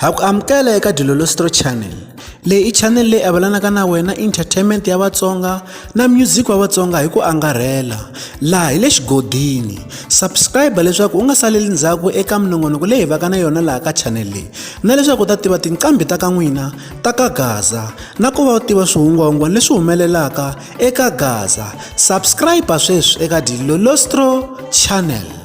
ha ku amukela eka dilolostro channel leyi i channel leyi avelanaka na wena entertainment ya vatsonga na music wa vatsonga hi ku angarhela laha hi le xigodini subscribe leswaku u nga saleli ndzhaku eka minongonoko leyi hi vaka na yona laha ka channel leyi na leswaku u ta tiva tinqambi ta ka n'wina ta ka gaza na ku va u tiva swihungwahungwana leswi humelelaka eka gaza subscribe sweswi eka dilolostro channel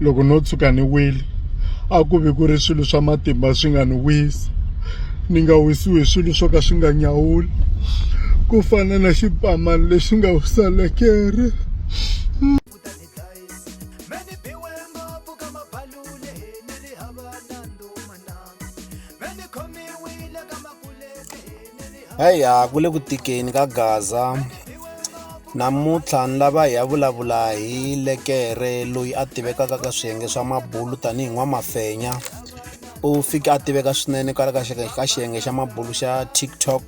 loko no tshuka ni wile a ku vi ku ri swilo swa matimba swi nga ni wisi ni nga wisiwi hi swilo swo ka swi nga nyawuli ku fana na xipamani lexi nga wisa lekere Heya ku le ku tikeni ka Gaza. Namuntlha ni lava hi ya vulavula hi lekere loyi a tivekaka ka swiyenge swa mabulu tanihi n'wamafenya. U fike a tiveka swinene kwala ka ka xiyenge xa mabulu xa TikTok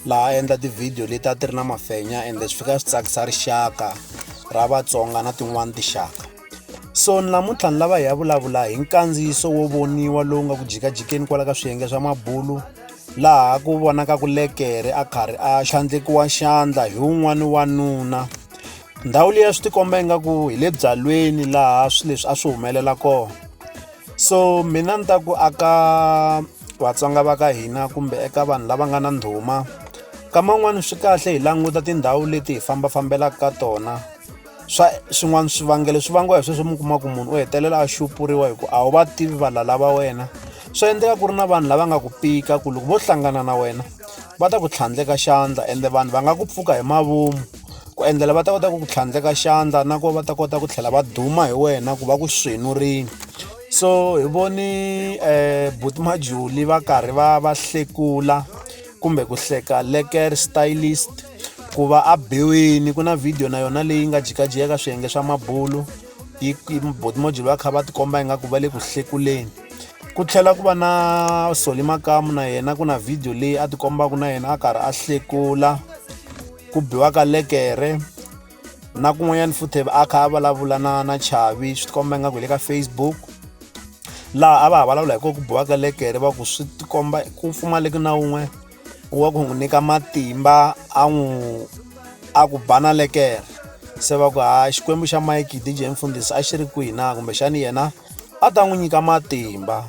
laha a endla tivhidiyo leti a ti ri na mafenya ende swi fika swi tsakisa rixaka ra Vatsonga na tin'wani tinxaka. So namuntlha ni lava hi ya vulavula hi nkandziyiso wo voniwa lowu nga ku jikajikeni kwala ka swiyenge swa mabulu laha ku vonaka ku lekere a karhi a xandlekiwa xandla hi wun'wani wanuna ndhawu leyi a swi tikomba ingaku hi le byalweni laha swi leswi a swi humelela kona so mina ni ta ku aka vatsonga va ka hina kumbe eka vanhu lava nga na ndhuma ka man'wani swi kahle hi languta tindhawu leti hi fambafambelaka ka tona swa swin'wana swivangelo swi vangiwa hi sweswo mi kuma ku munhu u hetelela a xupuriwa hi ku a wu va tivi valala va wena swi endleka ku ri na vanhu lava nga ku pika ku loko vo hlangana na wena va ta ku tlhandleka xandla ende vanhu va nga ku pfuka hi mavomu ku endlela va ta kota ku ku tlhandleka xandla na ku va ta kota ku tlhela va duma hi wena ku va ku swenurini so hi voni um buti majuli va karhi va va hlekula kumbe ku hleka leker stylist ku va a biwini ku na video na yona leyi nga jikajiya ka swiyenge swa mabulu yi botimojilo va kha va tikomba ingaku va le ku hlekuleni ku tlhela ku va na soli makamu na yena ku na video leyi a tikombaka na yena a karhi a hlekula ku biwaka lekere na kun'wanyana futhi a kha a vulavula na na chavi swi tikomba ingaku hi le ka facebook laha a va ha vulavula hi ko ku biwa ka lekere va ku swi tikomba ku pfumaleki na wun'we wa ku n'wi nyika matimba a n'wi a ku bana lekere se va ku ha xikwembu xa mike dj mfundhisi a xi ri kwihi na kumbexani yena a ta n'wi nyika matimba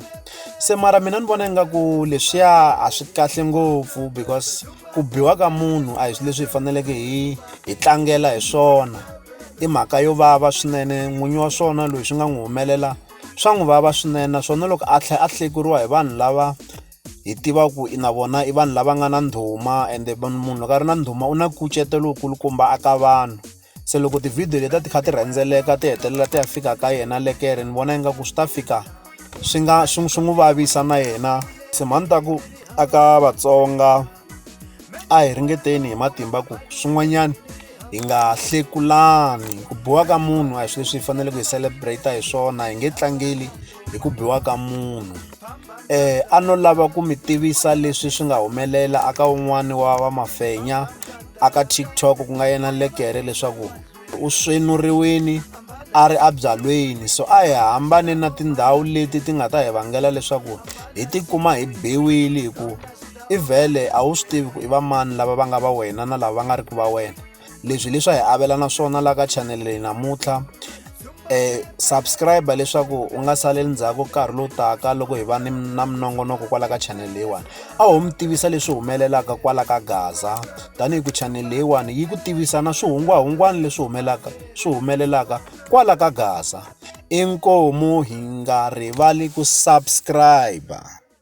se mara mina ni vona ingaku leswiya a swi kahle ngopfu because ku biwa ka munhu a hi swilo leswi hi faneleke hi hi tlangela hi swona i mhaka yo vava swinene n'winyi wa swona loyi swi nga n'wi humelela swa n'wi vava swinene naswona loko a tlhela a hlekuriwa hi vanhu lava hi tiva ku i na vona i vanhu lava nga na ndhuma ende munhu loko a ri na ndhuma u na nkucetelo wu kulukumba aka vanhu. se loko tivhidiyo leti a ti kha ti rhendzeleka ti hetelela ti ya fika ka yena lekere ni vona ingaku swi ta fika swi nga swi swi n'wi vavisa na yena se mhani ta ku a ka vatsonga a hi ringeteni hi matimba ku swin'wanyana hi nga hlekulani ku biwa ka munhu a hi swilo leswi hi faneleke hi celebrate hi swona hi nge tlangeli hi ku biwa ka munhu eh a no lava ku mi tivisa leswi swi nga humelela aka un'wani wa va mafenya aka tiktok ku nga yena lekere leswaku u swenuriwini a ri abyalweni so a hi hambane na tindhawu leti ti nga ta hi vangela leswaku hi tikuma hi biwile hi ku i vhele a wu swi tivi ku i va mani lava va nga va wena na lava va nga ri ku va wena leswi leswi a hi avelana swona la ka chanele leyi namuntlha eh subscribe leswaku u nga saleli ndzhaku nkarhi lowu taka loko hi va ni na minongonoko kwala ka channel leyiwani a ho mi tivisa leswi humelelaka kwala ka gaza tanihi ku channel leyiwani yi ku tivisa na swihungwahungwana leswi humelaka swi humelelaka kwala ka gaza inkomu hi nga rivali ku subscribe